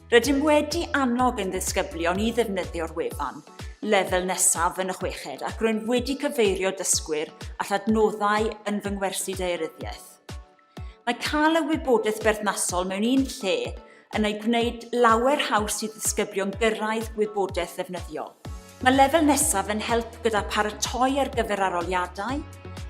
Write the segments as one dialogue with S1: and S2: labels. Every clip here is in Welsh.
S1: Rydym wedi annog ein disgyblion i ddefnyddio'r wefan lefel nesaf yn y chweched ac rwy'n wedi cyfeirio dysgwyr at adnoddau yn fy ngwersi daearyddiaeth. Mae cael y wybodaeth berthnasol mewn un lle yn ei gwneud lawer haws i ddisgyblion gyrraedd gwybodaeth ddefnyddiol. Mae lefel nesaf yn help gyda paratoi ar gyfer aroliadau.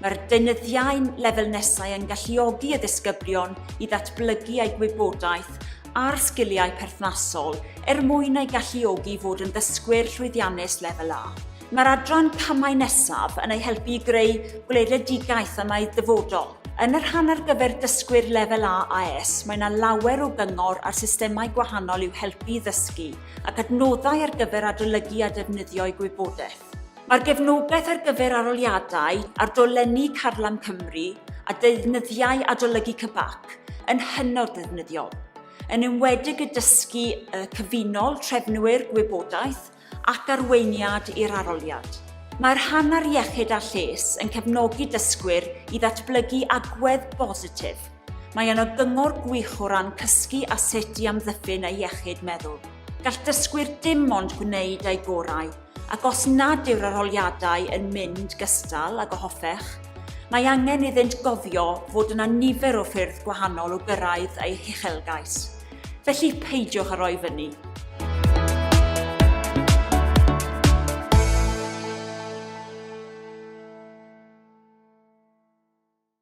S1: Mae'r deunyddiau'n lefel nesau yn galluogi y ddisgyblion i ddatblygu eu gwybodaeth a'r sgiliau perthnasol er mwyn eu galluogi i fod yn ddysgwyr llwyddiannus lefel A. Mae'r adran camau nesaf yn eu helpu i greu gweledigaeth am eu dyfodol. Yn y rhan ar gyfer dysgwyr lefel A AS, mae yna lawer o gyngor ar systemau gwahanol i'w helpu i ddysgu, ac adnoddau ar gyfer adolygu a defnyddio'u gwybodaeth. Mae'r gefnogaeth ar gyfer aroliadau ar dolenni Carlam Cymru a deunyddiau adolygu CBAC yn hynod ddefnyddiol, yn enwedig y dysgu y cyfunol trefnwyr gwybodaeth ac arweiniad i'r aroliad. Mae'r Hanner Iechyd a Lles yn cefnogi dysgwyr i ddatblygu agwedd bositif, Mae yno gyngor gwych o ran cysgu a sut i amddiffyn ei iechyd meddwl. Gall dysgwyr dim ond gwneud eu gorau, ac os nad yw'r arholiadau yn mynd gystal ag o hoffech, mae angen iddynt gofio fod yna nifer o ffyrdd gwahanol o gyrraedd eu huchelgais. Felly peidiwch â roi fyny.